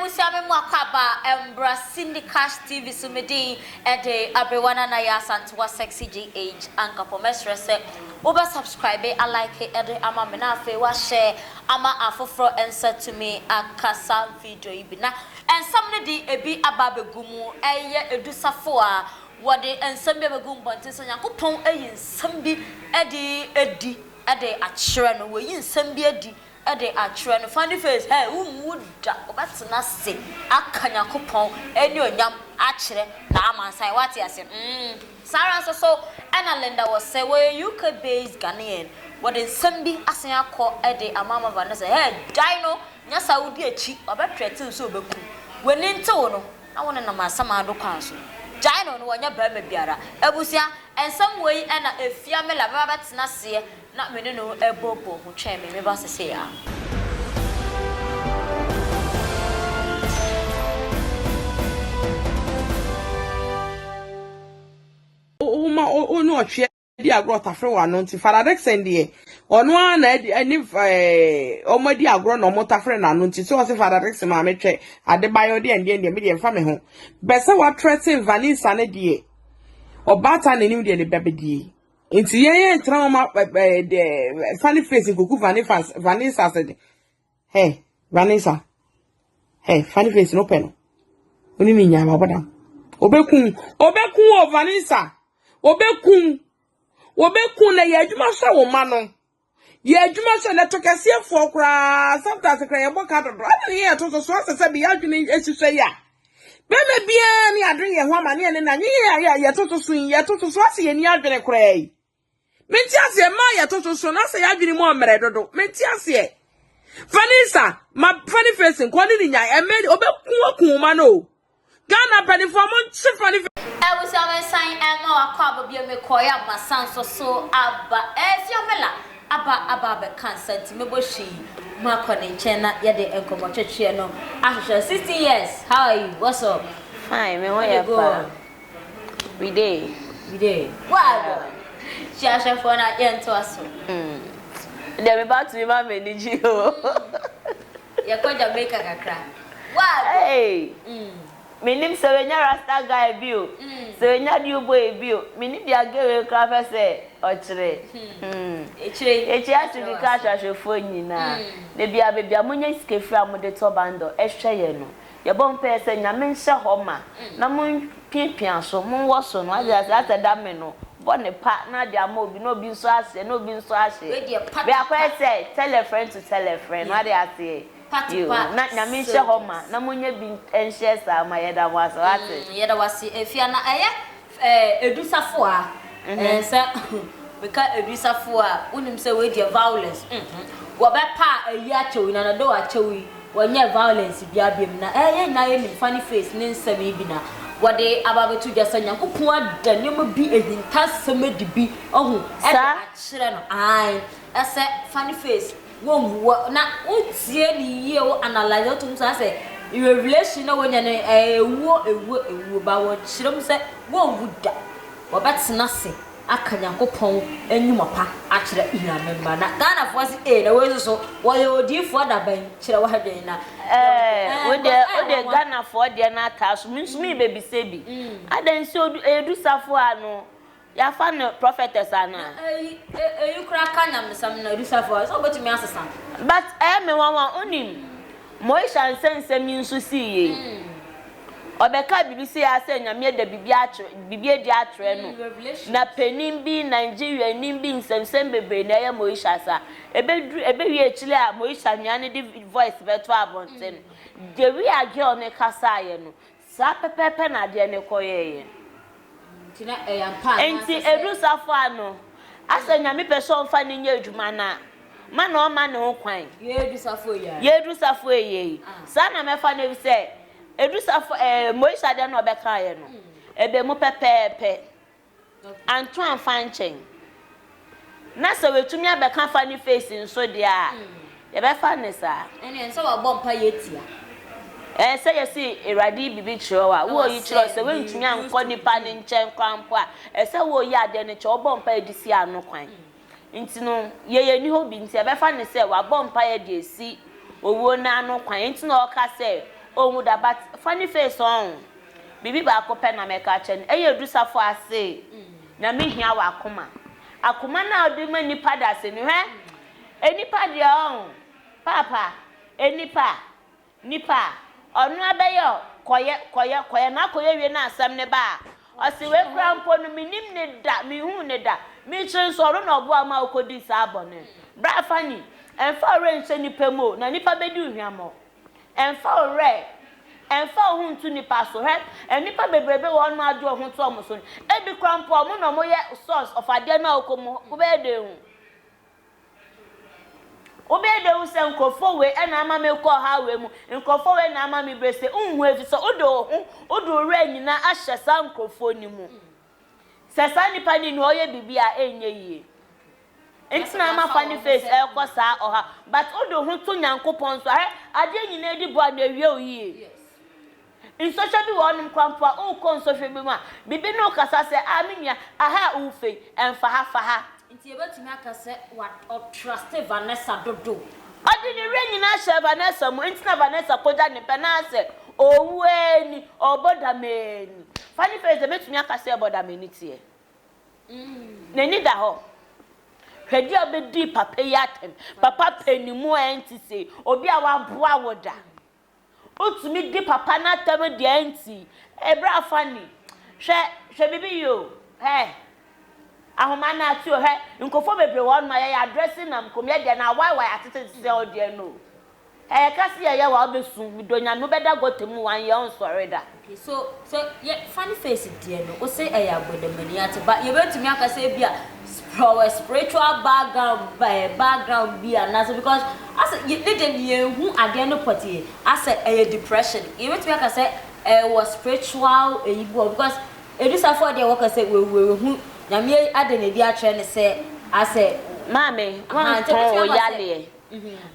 Abusua me mu akwaaba mbra Cindy Cash TV so me din de Aberewa Nanaye Asantewaa Sexy GH Ankapong mɛsrɛ sɛ wo bɛ subscribe a like de ama me na afei wa share ama afoforɔ nsa tumi akasa video yi bi na Nsɛm no de ebi aba abegu mu. Ɛyɛ edu safo a, wɔde nsɛm bi abegu mmɔnten sɛ Nyankopɔn ayi nsɛm bi de adi de akyerɛ no. Wayi nsɛm bi adi de akyerɛ no. Funny face, hey, wonwu da, wɔbɛtena ase aka Nyankopɔn anuonyam akyerɛ n'amansan. Woate ase? Mm. Saa ara nso so na Linda wɔ se, wɔyɛ UK-based Ghanaian. Wɔde nsɛm bi asan akɔ de ama ma Vanessa, hey, gyae no. Nyɛ saa, wudi akyi, ɔbɛtrɛte wo sɛ obeku wo. W'ani ntew wo no, na wo ne no nam asamando kwan so. Gyae no, na ɔnyɛ barima biara. Abusua, nsɛm wei na efia me la, me ba bɛtena aseɛ na me ne no ɛbɔbɔ hu twɛn me, me ba sesei aa. Wo ma wo ne ɔtweɛ. di agorɔ tafere wɔ ano nti Father Dickson deɛ ɔno ara na adi ɛne ɛɛ wɔn adi agorɔ na wɔn tafere n'ano nti so ɔsi Father Dickson maame twɛ Adebayo deɛ ndeɛ ndeɛ mi deɛ nfa mi ho bɛsɛ watrɛ ten Vanessa ne deɛ ɔbaatan n'anim deɛ ne ba bedie nti yɛn yɛn tena wɔn ɛɛ deɛ funny face nkuku Vanessa Vanessa se de Hey, Vanessa. Hey, funny face no pɛ no. Oni ni nya ma bodam. Obekun, obekun o Vanessa. Obekun. Obekun na yɛ adwuma hwɛ wo ma no. Yɛ adwuma hwɛ na to kɛseɛ foɔ koraa. Sometimes kra yɛ bɔ ka dodo. Ana ne yɛ to so so asɛ sɛ bi adwene ehyehyɛ ya. Bɛma bia ne adwene yɛ ho ama ne ne na nye yɛ yɛ to so so yɛ to so so asɛ yɛ ni adwene koraa yi. Mente aseɛ, mmaa yɛ toto so na sɛ yɛadwene mu ɔmmerɛ dodo. Mente aseɛ. Fani sa, ma fani face nkɔ ne ne nyan, ɛmɛ ɔbɛku aku ma no o. Ghana mpanifoɔ mo nkye fani face. Abusua me nsan ɛma wakɔ aba bio me kɔɔɛ a masan nso so aba ɛɛ fiamela aba aba abɛka nsa nti mɛbɔ hwii makɔ ne nkyɛn na yɛde nkɔmɔ twɛtweɛ no ahwehwɛ 16 years how are you what's up Fine, me ho yɛ pa. We dey. We dey. Wago. Hyia ahwɛfoɔ na yɛn to aso. Hmm. Deɛ me ba tumi ma me ni gye o. Hmm. Yɛ kɔ Jamaica kakra. Wago. Hey. Hmm. Me nim sɛ wenya rasta guy bi o. Hmm. Sɛ wenya dew boy bi o. Me nim deɛ girl wei kura fɛ sɛ ɔkyerɛ. Hmm. Hmm. Ekyire. Ekyire ase bi ka ahwɛfoɔ nyinaa. Hmm. Debi a bebi a mo nya sika firi a mo de tɔ bundle ɛhwɛ yɛ no. Yɛbɔ mpaɛ sɛ Nyame nhyɛ hɔ ma na mo piapia so, mo wɔ so no, wate aseɛ, asɛ da me no, bɔ ne pa na ade ama obi na obi nso aseɛ na obi nso ahye, me akɔyɛ sɛ tell a friend to tell a friend, wate aseɛ, yoo, na Nyame nhyɛ hɔ ma na mo nyɛ bi nhyɛ saa ma yɛda mo ase, wate. Yɛda wo ase Afia na ɛyɛ Eh Edu Safoa eh sɛ meka Edu Safoa a wonim sɛ wei deɛ violence mhm wɔbɛpa ayi akyɛ wo nyinaa though akyɛ wo yi wɔnyɛɛ violence biara biom na eh yɛn nyinaa yɛnim funny face ne nsɛm yi bi na wɔde aba abɛto dwa sɛ Nyankopɔn ada nneɛma bi ahintasɛm adi bi wahu de akyerɛ no ae ɛsɛ funny face Wo hu wɔ na wo tie ne yie wo analyse wo to mu saa sɛ revelation na wonya no ɛyɛ ewuo ewuo ewuo but wɔ kyerɛ mu sɛ wo nwu da wɔ bɛ tena ase aka Nyankopɔn nwuma pa akyerɛ Nyame mma na Ghana foɔ se ee na wei nso so wɔ yɛ odiifoɔ da bɛn kyerɛ wo adwen na Ɛɛ wo deɛ wo deɛ Ghana foɔ deɛ no ataa so me nso merebɛ bisa bi adɛn sɛ odu ɛyɛ du safoa no Yɛafa no prophetess anaa? Na eyi eyi koraa ka nyamesɛm na Lucifer ɔyɛ sɛ ɔbɛtumi asesa no. But ɛyɛ me nwanwa wonim Moesha nsa nsɛm yi nso sii yei ɔbɛkaa biribi sii aa sɛ Nyame ada biribi akyerɛ biribi adi akyerɛ no na panin bi Nigeria ni bi nsɛmsɛm bebree na ɛyɛ Moesha sa ɛbɛduru ɛbɛwie akyire a Moesha nua no de voice bɛto abɔnten deɛ wia girl no kasaeɛ no Saa pɛpɛɛpɛ na adeɛ no kɔyɛeɛ. Nti na ɛyɛ ampa anaa Enti ɛsɛ sɛ. ɛduru saa fo a no, asɛ Nyame pɛ sɛ ɔmfa no nyɛ adwuma no a, ma na ɔmma ne ho kwan. Yɛadu saa fo yi ara. Yɛadu saa fo yi ara yi. Saa na mɛfa no efisɛ ɛdu saa fo ɛɛ Moise adeɛ no a ɔbɛkaeɛ no, ɛbɛ mu pɛpɛɛpɛ. anto amfa ankyɛn. Na sɛ watumi abɛka afa ne face nso deɛ a, yɛbɛfa no saa. Ɛnneɛ ɛnsɛ wabɔ mpaeɛ atia. Ɛɛ sɛ yɛsi Awurade yi biribi kyerɛ wo a, wo ɔyi kyerɛ sɛ woantumi ankɔ nipa no nkyɛn koraa mpo a, ɛsɛ woyi adeɛ no kyɛ wobɔ mpaeɛ de si ano kwan. Enti no, yei nni hɔ bi nti, yɛbɛfa no sɛ wabɔ mpaeɛ de asi owuo no ano kwan nti na ɔreka sɛ ɔnwu da. But funny face ɔn. Biribi baako pɛ na mɛka akyerɛ no, ɛyɛ du safoa ase na me hia w'akoma. Akoma no a wode ma nnipa dasani. Hwɛ, nnipa deɛ ɔn, paapa, nnipa, Nipa a, ɔno abɛyɛ ɔ, kɔyɛ, kɔyɛ, kɔyɛ, na akɔyɛ wie na asɛm no ba a, ɔse wei koraa mpo no mennim no da, menhuu no da, me kyerɛ nso ɔno na ɔboa wo ma wokɔdii saa bɔne no. Bra Fanny, ɛmfa wo werɛ nhyɛ nnipa mu o, na nnipa bɛdi wo hwammɔ. Ɛmfa wo werɛ, ɛmfa wo ho nto nnipa so, hwɛ, nnipa bebrebe wɔ hɔ nom a wode wo ho to wɔn so no, ebi koraa mpo wɔn na wɔyɛ source of adeɛ no a wokɔ mu, wobɛyɛ dɛn ahu? Wobɛyɛ dɛ ehu sɛ nkorɔfoɔ wei na ama merekɔ ɔhaw wei mu, nkorɔfoɔ wei na ama mebrɛ sei, wonhu efisɛ wode wo ho, wode wo werɛ nyinaa ahyɛ saa nkorɔfoɔ no mu. Sɛ saa nipa no nni hɔ ɔyɛ biribi a ɛnyɛ yie nti na ama fa ne face ɛrekɔ saa ɔhaw but wode wo ho to Nyankopɔn so a, hwɛ adeɛ nyinaa di bɔ a na ɛwie wo yie. Nsɔhwɛ bi wɔ hɔnom koraa mpo a, wokɔ nsɔhwɛ bi mu a, biribi ne wo kasa sɛ, Ah, me nua, aha a wofa yi, ɛmfa ha, fa ha. Enti yebetumi aka sɛ wa, ɔtruste Vanessa dodo. Ɔde ne werɛ nyinaa hyɛɛ Vanessa mu, enti na Vanessa kogya ne pɛ no ara sɛ, Owu ara ni, ɔbɔ dam ara ni. Fa ne phrase a ebetumi aka sɛ ɛbɔ dam ani teɛ. N'ani da hɔ. Hwɛ dua a obedii papa yi atɛm. Papa pɛ ne mu a ɛnte sei. Obi a waboa wo da. Wotumi di papa no atɛm deɛ nti ɛbra funny hwɛ hwɛ bibi yi o hɛɛ ahoma no ate o hwɛ nkurɔfoɔ bebree wɔ hɔ nom a yɛyɛ adrɛse nam kom yɛ deɛ na why why atete te sɛ ɔdeɛ no o ɛyɛ ka se yɛyɛ wa wobɛsu medɔ nyame wobɛda gɔta mu one year ɔnsɔre da. So sɛ yɛ funny face deɛ no wose ɛyɛ agbɔdamani ate ba yɛbɛtumi aka sɛ ebia from wɔ spiritual background by background bi anaasɛ because asɛ yɛ ne deɛ ne yɛn hu adeɛ no pɔtee asɛ ɛyɛ depression yɛbɛtumi aka sɛ ɛwɔ spiritual ɛyi bi wɔ because Edusafoɔ deɛ wɔka sɛ wawu wahu Nyame ade na ɛdi akyerɛ ne sɛ asɛ Maame wanka wo yaleɛ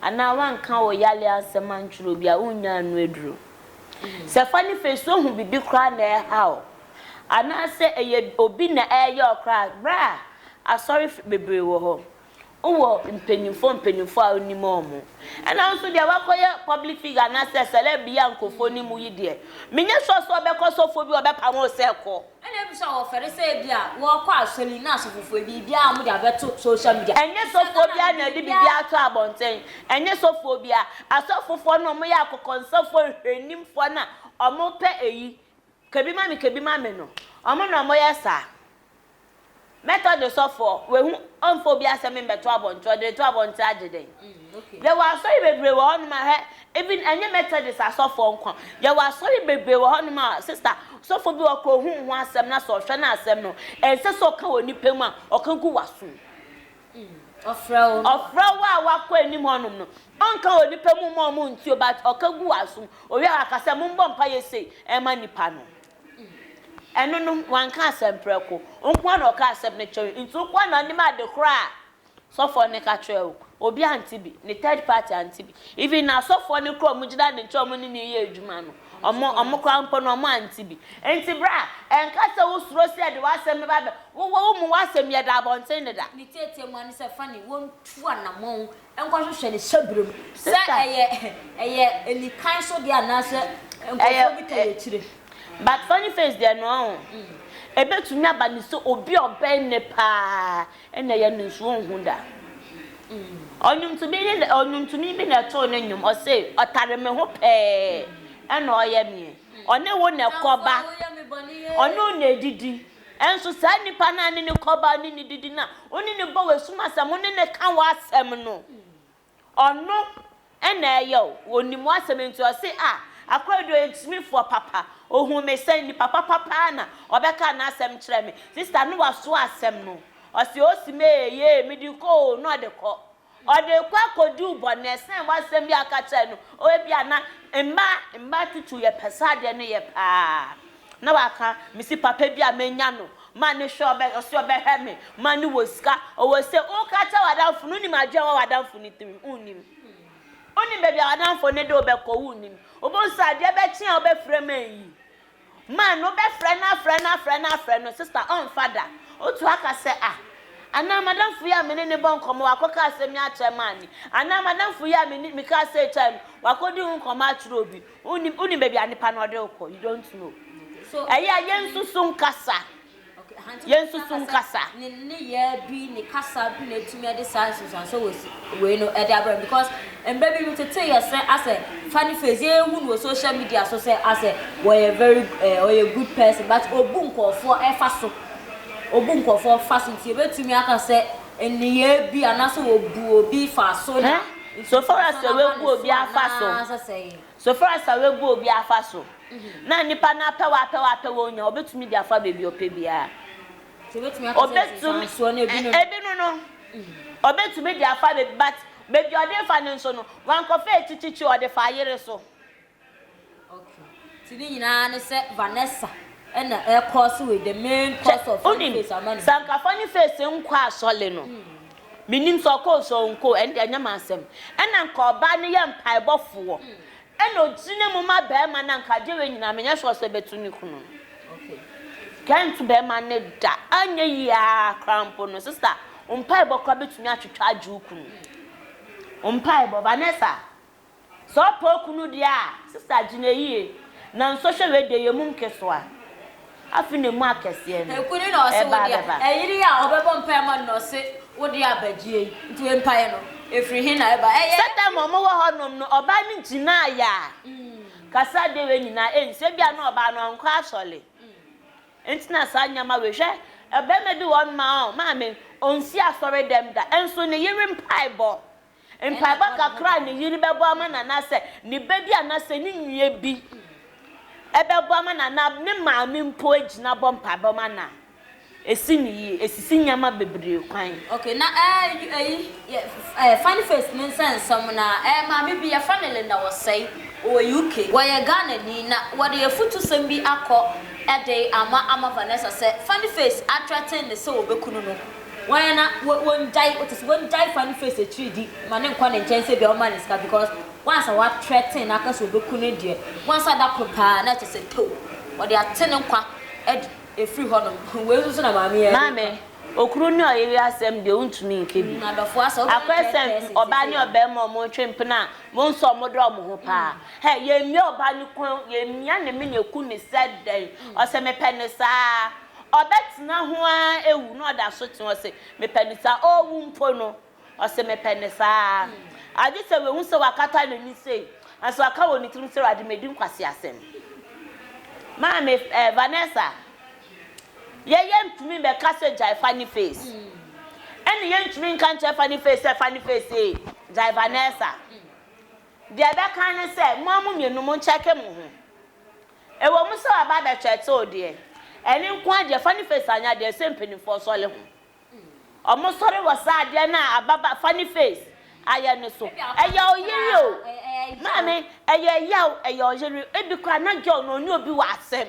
anaa wanka wo yaleɛ asɛm antwerɛ obi a wonnya ano aduro. Sɛ fa ne fa so hu biribi koraa na ɛreha wo, anaasɛ ɛyɛ obi na ɛreyɛ wo koraa a, bra. Asɔrefo bebree wɔ hɔ. Wowɔ mpanyimfo mpanyimfo a wunim wɔn. Ɛnna wo nso deɛ woakɔyɛ public figure anaasɛ celeb yi a nkurɔfoɔ nim wo yi deɛ, menyɛ sure sɛ wobɛkɔ sɔfoɔ bi a ɔbɛpamo wo sɛ kɔ. Ɛna ebi nso a wɔfɛre sɛ ebia wɔkɔ asɔre na asɔfofoɔ biribiara a wɔde abɛto social media. Ɛnyɛ sɔfoɔ biara na ɛde biribiara ato abɔnten. Ɛnyɛ sɔfoɔ biara. Asɔfofoɔ no wɔyɛ akokɔnsafoɔ nhwɛnimfoɔ no a wɔpɛ eyi, ka bi ma me, ka bi ma me no, wɔn na wɔyɛ saa. Mɛtɔ de sɔfoɔ, wahu, ɔmfa obi asɛm mmɛto abɔnten, ɔde reto abɔnten agye dɛn? Yɛwɔ asɔre bebree wɔ hɔnom a, hwɛ, even ɛnyɛ Methodist asɔfoɔ nko a, yɛwɔ asɔre bebree wɔ hɔnom a, sista, sɔfo bi ɔka ohu ho asɛm na sɛ ɔhwɛ no a asɛm no, ɛnsɛ sɛ ɔka wɔ nnipa mu a, ɔka gu w'asom. Ɔfrɛ wo a wakɔ anim hɔnom no, ɔnka wɔ nnipa mu mma wɔn ntie o, but ɔka gu w'asom. Owie a, waka sɛ, mommɔ mpaeɛ sei mma nnipa no. Ɛno no, wanka asɛm prɛko. Wo nko ara na ɔkaa asɛm no kyerɛɛ wo, nti wo nko ara na wonim ade korɔ a sɔfoɔ no ka kyerɛɛ wo. Obi ante bi, ne third party ante bi. Even n'asɔfoɔ no koraa a wɔn gyina ne nkyɛn a wɔn ne no yɛ adwuma no, wɔn wɔn koraa mpo no wɔn ante bi. Nti bra, ɛnka sɛ wo suro sɛ yɛde w'asɛm bɛba abɛ, wo wɔ wo mu w'asɛm yɛda abɔnten deda. Ne tiatia mu ara ne sɛ, Fannie, wɔn tu anamɔn nkɔhwehwɛ ne hyɛberɛ mu sɛ ɛyɛ ɛyɛ anikan so deɛ anaasɛ nkurɔfoɔ bi tɔ yɛ akyire. But funny face deɛ no ɔho. Ɛbɛtumi aba no sɛ obi a ɔbɛn no paa na ɛyɛ no nso ɔnhu da. Ɔnwomtoni ne na ɔnwomtoni bi na ɛtoo no nnwom ɔse ɔtare me ho pɛɛ ɛna ɔyɛ meɛ ɔne wo na ɛkɔba ɔne wo na ɛdidi Nanso saa nipa no a ne ne kɔbaa ne no didi na wo ne no bɔ w'asum asɛm, wo ne no ka w'asɛm no, ɔno na ɛyɛ o, ɔnim w'asɛm nti ɔse a, akora deɛ ɔyɛ gyimifoɔ papa, ɔhuu me sɛn, nipa papa paa na ɔbɛkaa n'asɛm kyerɛɛ me, sista no waso asɛm no, ɔse o se me ee, yee, mede kɔ o, na ɔde kɔ. Ɔde rekɔ akɔduu bɔne sɛn wɔ asɛm bi a ɔka kyerɛɛ no o ebia na mma mma tutu yɛ pɛ saa deɛ no yɛ paa na waka mesi papa bi a mɛnya no ma ne hwɛ ɔbɛ ɔsi ɔbɛhwɛ me ma ne wɔ sika ɔwɔ se woka kyɛ wadanfo no nim adwene wɔ wadanfo ne tirim wonim wonim baabi a wadanfo ne de wobɛkɔ wonim wobɛhu sɛ adeɛ bɛkye a wobɛfrɛ ma yi Man no bɛfrɛ no afrɛ no afrɛ no afrɛ no sister ɔmfa da. Otu aka sɛ ah anaa madamfo yi a me ne no bɔ nkɔmmɔ wakɔka asɛm yi akyerɛ man no anaa madamfo yi a me ne mekaa sei kyerɛɛ no wakɔdi ho nkɔmmɔ akyerɛ obi. Wonim wonim baabi a nipa no ɔde wo kɔ you don't know. Ɛyɛ a yɛnsusu nkasa. Yɛn nso so nkasa. Ne nneyɛɛ bi, ne kasa bi na atumi de saa nsunsuansoɔ wɔ wei no de abrɛ no because mmerɛ bi no tete yɛsɛ asɛ funny face yɛn hu no wɔ social media so sɛ asɛ wɔyɛ very eh, ɔyɛ good person but obu nkɔɔfoɔ ɛfa so obu nkɔɔfoɔ fa so nti yɛbɛtumi aka sɛ nneyɛɛ bi anaasɛ obu obi fa so na so far as sɛ wabu obi afa so. So far as awɛ gu obi afa so na nipa no apɛ w'apɛ w'apɛ wɔ nya obetumi de afa baabi ɔpɛ biara Nti obetumi aka sɛ nti saa nsuo no ebi no ebi no no obetumi de afa baabi but baabi ɔde refa no nso no wankɔfa akyikyikyiri ɔde fa ayere so. Okay nti ne nyinaa ne sɛ Vanessa ɛna ɛrekɔɔse wei the main cause of funny face ama ne ho. Sɛ anka funny face nkɔ asɔle no. Mennim sɛ ɔkɔ o sɛ ɔnkɔ o, ɛno deɛ ɛnyɛ m'asɛm. Ɛna nka ɔbaa no yɛ mpaebɔfoɔ, ɛna ɔgyina mu ma barima no a, nka adeɛ wei nyinaa menyɛ sure sɛ ɛbɛto ne kunu no. Nka ɛnto barima no da. Anyɛ yie ara koraa mpo no, sista, wo mpaebɔ koraa bɛtumi atwitwa agye wo kunu. Wo mpaebɔ, Vanessa, Sɛ ɔpɛ okunu deɛ a, sista gyina yie na nsɔhwɛ wei deɛ yɛ mu nkesoa. Afe na emu akɛseɛ no, Ɛkunu na ɔse ɛba wodea, abɛba. ɛyere a ɔbɛbɔ mpaeɛ ama no na ɔse wodea aba gyie yi, nti wei mpaeɛ no ɛfiri he na ɛba? Ɛyɛ. Sɛ time a ɔmo wɔ hɔ nom no ɔbaa no gyinaa yɛ a, kasa deɛ wei nyinaa ɛnsi, ebia na ɔbaa no ɔnkɔ asɔre nti na saa nneɛma wei, hwɛ ɔbarima bi wɔ hɔ nom a ɔɔ, maame, ɔnsi asɔre dɛm da, nso ne yere mpaebɔ. Mpaebɔ kakra a ne yere bɛbɔ ama no anaasɛ ne ba bi anaasɛ ne nua bi bɛbɔ ama no anaa ne maame mpo gyina bɔ mpaebɔ ma no a, esi no yie. Esisi nneɛma bebree kwan. Okay, na eh, eyi yɛ eh, funny face ne nsɛnsɛm na eh, maame bi yɛfrɛ no Linda Wɔsɛe, ɔwɔ UK. Wɔyɛ Ghanani na wɔde afutusɛm bi akɔ de ama ama Vanessa sɛ funny face athreaten no sɛ ɔbɛkunu no. Wan a na wongyae wo te sɛ wongyae fa ne face akyiri di ma ne nkɔ ne nkyɛn sɛ bia ɔma ne sika because once a wa threaten na aka sɛ obeku no deɛ once a da koro paa na kyɛ sɛ too wɔde ate ne nkwa adi efiri hɔ nom hmm wei nso so na maame yi ɛde Maame, ka. okunu ne ɔyere asɛm deɛ wontumi nka bi. Mm adɔfoɔ asɛ wobɛyɛ Akɔ third sɛ person ɔbaa ne seisei. ɔbarima a wɔn twe mpena a wɔn nso wɔn dɔ wɔn ho paa. Hɛ, yɛn mia ɔbaa no kɔn, yɛn mia ne mene ku no sɛ dɛn, ɔsɛ mepɛ no saa. Ɔbɛtena ho ara awu na ɔda so te hɔ se, Mepɛ no saa. Ɔrewu mpo no, ɔse, Mepɛ no saa. Agye sɛ wahu sɛ wɔakata n'ani sei, nanso waka wɔ ne tirim sɛ, Awurade, madi nkwaseasɛm. Maame, eh, Vanessa, yɛ, yɛntumi mmɛka sɛ, Gyae Fanny Face. Ɛnne yɛntumi nka nkyerɛ Fanny Face sɛ, Fanny Face ee, gyae Vanessa. Deɛ ɛbɛka ne sɛ, mo ara mo mmienu monkyɛke mo ho. Ɛwɔm sɛ waba abɛkyɛ tew deɛ, ɛno nko ara deɛ, fa ne face anyɛ adeɛ, ɛsɛ mpaninfoɔ sɔre ho. Ɔmo sɔre wɔ saa adeɛ no a ababa, fa ne face, ayɛ no so. Ɛyɛ ɔyere o, maame, ɛyɛ yaw, ɛyɛ ɔyere. Ebi koraa na girl no ɔne obi wɔ asɛm,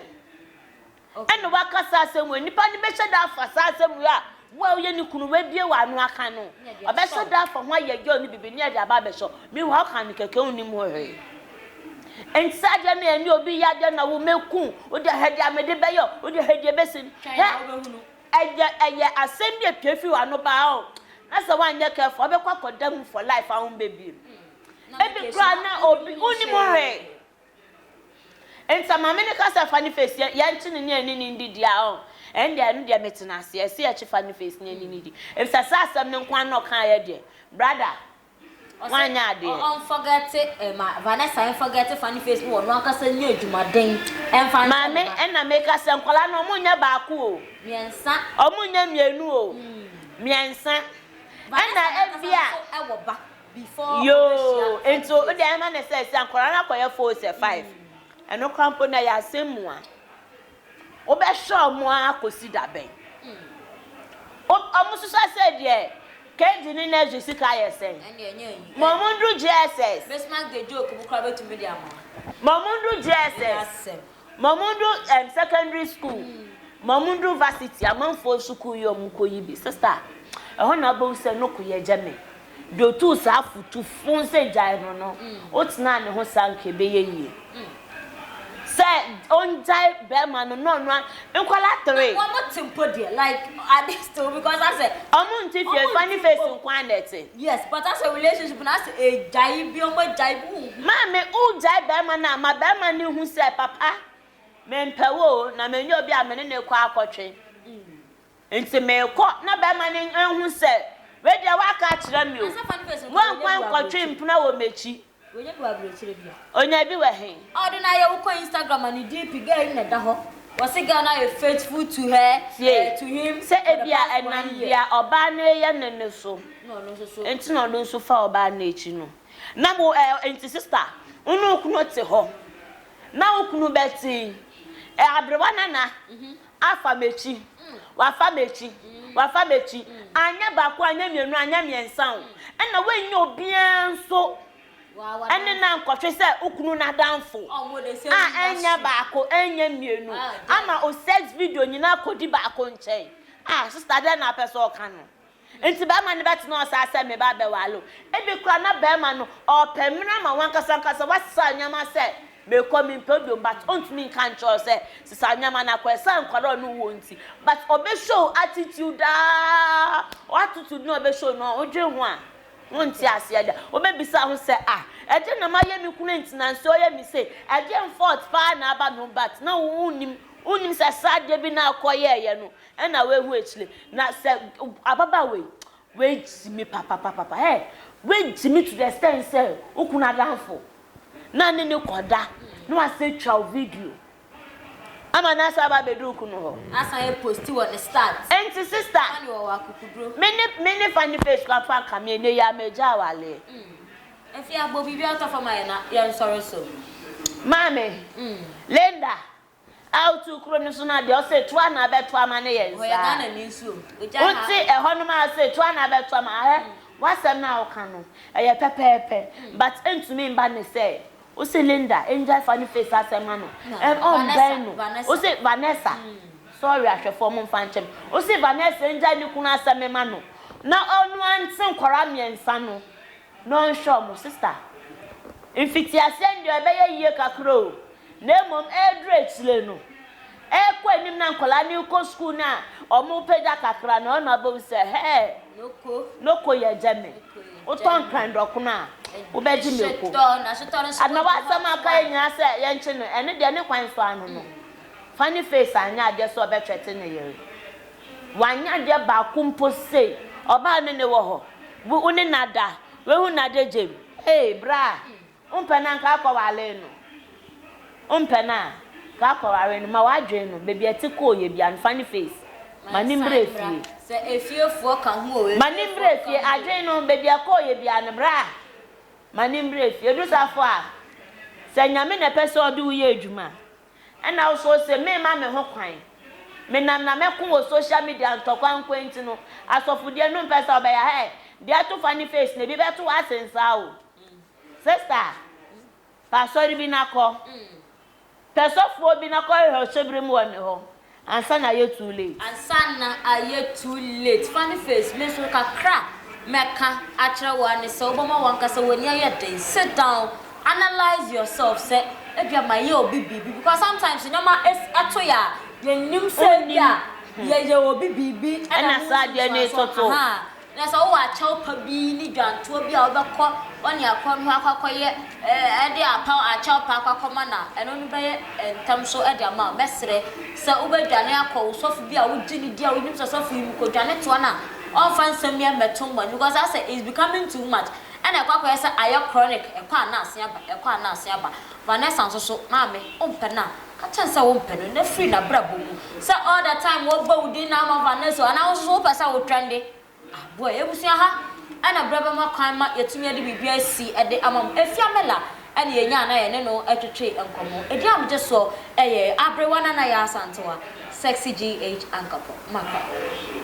ɛna wakasa asɛm wei, nipa no bɛhyɛ da afa saa asɛm wei a. Wo a woyɛ ne kunu, woabue w'ano aka no, ɔbɛhyɛ da afa ho ayɛ yaw ne biribi ne ɛde aba abɛhyɛ wo. Meanwhile woka no kɛkɛ, wunnim ho hwee. Enti saa adeɛ no, ɛne obi yɛ adeɛ na wo, mɛku wo, wode ɛhɛ deɛ a mede bɛyɛ wo, wode ɛhɛ deɛ ɛbɛsi no. Hwɛ, ɛyɛ, ɛyɛ asɛm bi a ɛpue firi w'ano ba o, na sɛ woanyɛ careful a, wobɛkɔ akɔda mu for life a wommɛbiem. Ebi koraa na obi, wunnim ho hwee. Ntsa ma me ne kasa fa ne face yɛ yɛnkyɛ ne ne yɛne ne ndidi a ɔn ɛnde ɛno deɛ metsena ase ɛse yɛkye fa ne face ne yɛne ne di efisɛ saa asɛm no nkoaa na ɔkaeɛ deɛ brada woanyɛ adeɛ. Ɔn fɔgɛte eh ma Vanessa en fɔgɛte fa ne face ne wɔno ankasa nyɛ adwumaden ɛnfa nkyɛ ne ba. Maame ɛna meka sɛ nkwadaa no ɔmo nyɛ baako o. Miɛnsa. Ɔmo nyɛ mienu o. Miɛnsa. Vanessa nankasa nso ɛwɔ ba. before ɔbɛhyia five years. Yoo nti o de ɛma ne sɛ sɛ nkwadaa no akɔyɛ four sɛ five ɛno kora mpo na ɛyɛ asɛm mu a wobɛhwɛ ɔmo ara akɔsi da bɛn ɔmo sosa sɛ deɛ KG ne nursery sika ayɛ sɛn ɛne ɛnyɛ yi ma ɔmo ndu JSS Christmas day joke mo kora bɛtumi de ama ma ɔmo ndu JSS Mamudu um, secondary school, Mamudu varsity, amanfoɔ sukuu yi ɔmo kɔ yi bi, sista, ɛhɔ na wobɛhu sɛ no koyɛ gya me, deɛ otuu saa fo tu fo sɛ gyae no no, wotenaa ne ho saa nka ɛbɛyɛ yie, sɛ ɔngyae bɛɛma no na ɔnoa nkwadaa three. Wɔn te mpo deɛ, like are they still because asɛ. Ɔmo nte fie, funny face nko ara na ɛte. Yes but asɛ relationship no asɛ egyae bi ɔmo agyae bi wo hu. Maame wo gyae bɛɛma no a ma bɛɛma no hu sɛ papa me mpɛ wo o na me nyɛ obi a me ne no kɔ akɔtwe nti me kɔ na bɛɛma no nhu sɛ wei deɛ waka akyerɛ me o wo nkɔ nkɔtwe mpena wɔ mɛkyi Wanya bi wɔ aburokyire bia. Onya bi wɔ he? Ɔde no ayɛ wokɔ Instagram a ne DP girl yi na ɛda hɔ wɔse girl no ayɛ faithful to her Tie eh, to him sɛ for the ebia past ɛnam one year. deɛ ɔbaa no reyɛ no no so Na ɔno nso so. nti na ɔno nso fa ɔbaa no akyi no na mo eh, nti sister wo ne wo kunu te hɔ na wo kunu bɛte eh, aberewa nana. Afa m'akyi, wafa m'akyi, wafa m'akyi, anyɛ baako, anyɛ mmienu, anyɛ mmiɛnsa o, ɛna woannya obiara nso ɛne no ankɔhwe sɛ wo kunu no adamfo a ɛnyɛ baako, ɛnyɛ mmienu, ama o sex video nyinaa akɔdi baako nkyɛn. Ah, sista dɛn na wopɛ sɛ ɔka no? Ntsi bɛrima no bɛtsena hɔ saa sɛ me ba bɛwar o, bi koraa na bɛrima no ɔrepɛ mber ama wankasankasa ɔasesã ndzɛmba sɛ merekɔ memmpɛ bio but onntumi nnka nnkyerɛ wo sɛ sesã ndzɛmba no akɔ esian nkwadaa a ɔnye wo wɔ ntsi but ɔbɛ show attitude aa wo attitude no a ɔbɛ show no wodwen ho a wonntse aseɛ da wobɛbisa ho sɛ ah ɛdeɛn na mayɛ me kunu ntsi na nso ɔyɛ me sei ɛdeɛn fault paa na aba no ho but na wonnim wonnim sɛ sradeɛ bi na akɔyɛɛyɛ no Ɛna w'ehu ekyire na sɛ ababaawa yi w'egye me papapapapa hey w'egye me to the extent sɛ wo kunu adanfo na ne ne kɔ da na w'asɛ twa wo video ama na asɛ aba abɛdu wo kunu hɔ Asan yɛ posti wɔ ne stat. Nti sista Fani wɔ wɔ akukuduro. me ne me ne Fani face kura fa nka me ɛnɛ yi a me gya awaleɛ. Mm. Ɛfie abɔ biribi a ɔtɔ fam a yɛn na yɛn nsɔre so. Maame. Mm. Linda. A wotu kuro no so no a deɛ ɔse toa na abɛto ama no yɛ nsaa. Wote ɛhɔnom a ɔse toa na abɛto ama ahɛ w'asɛm no a woka no ɛyɛ pɛpɛɛpɛ but ɛntumi mba ne sɛ wose Linda ɛngyae fa no face asɛm ma no and ɔmbɛn no wose Vanessa sorry ahwɛfoɔ momfa nkyɛ me wose Vanessa ɛngyae ne kunu asɛm mma no na ɔno ara nte nkwadaa mmiɛnsa no No nhwɛ wɔn, sister. Mfitiaseɛ no deɛ ɛbɛyɛ yie kakra o, na mmom ɛreduru akyire no, ɛrekɔ anim na nkwadaa no rekɔ sukuu no a, wɔrepagya kakra no, ɛhɔnom abɛhu sɛ, hɛɛ, Noko yɛ gye me. Wotɔ nkran dɔkono a, wobɛgye mako. Ana w'asɛm a woka yɛ nyinaa sɛ yɛnkye no, ɛno deɛ ne kwan so ano no, funny face anyɛ adeɛ sɛ ɔbɛtwɛte ne yere. Wannya adeɛ baako mpo sei. Ɔbaa me ne wɔ hɔ. Wo ne no ada. Wahu no ada gyem. Ei braa, wompɛ no a nka akɔware no. Wompɛ no a nka akɔware no. Ma w'adwene no, baabi a ɛte kɔɔ yɛ biara no, fa ne face. Ma no mmra fie. Ma no mmra fie. Adwene no, baabi a ɛkɔɔ yɛ biara no, braa, ma no mmra fie. Ɛduru saa fo a, sɛ Nyame na ɛpɛ sɛ ɔde wo yɛ adwuma a, Ɛna wo so ose me ma me ho kwan me nam na mɛ ko wɔ social media ntɔkwa nko nti no asɔfo deɛ no mpɛ sɛ ɔbɛya hɛ deɛ to funny face na ebi bɛ to wase nsaa o sister fa asɔre bi na kɔ pɛ sɔfoɔ bi na kɔ hwehwɛ ɔhyɛ bere mu wɔ ne hɔ Ansa na ayɛ too late. Ansa na ayɛ too late. Funny face, me nso kakra mɛka akyerɛ wo ara ne sɛ wobɛma w'ankasa w'ani ayɛ den. Sit down, analyse yourself sɛ ebia mayɛ obi biribi because sometimes nneɛma to yɛ a yɛnnim sɛ ebia yɛyɛ obi biribi ɛna saa adeɛ no retoto. Na sɛ wowɔ akyɛw pa bi ne dwantoɔ bi a wobɛkɔ ɔne akɔn hɔ akɔ akɔyɛ ɛɛ de apaw akyɛw pa akɔ akɔma no a, ɛno no bɛyɛ ntɛm so de ama wo. Mɛsrɛ sɛ wobɛdwane akɔ wo sɔfo bi a wogye no di a wonim sɛ sɔfo yi mu kɔdwane toa no a ɔmfa nsɛm yi mmɛto mmɔne because asɛ it's becoming too much ɛna ɛkɔ akɔyɛ sɛ ayɛ chronic ɛkɔ a na asen aba ɛkɔ a na asen aba. Vanessa nso so, maame, wompɛ no a Ka kyerɛ no sɛ wompɛ no na firi n'abrabɔ mu. Sɛ all the time wɔbɔ wo din na ama Vanna asu anaa wo nso so wopɛ sɛ wo twɛn de a, boa. Yɛn abusua ha na berɛ bɛma kwan ma yɛatumi de biribi asi de ama mo. Afia Mela na yɛnyaa na yɛne no twetwee nkɔmmɔ. Ɛdin a megye soɔ yɛ Aberewa Nana Yaa Asantewaa, Sexy GH Ankapɔ. Makɔ.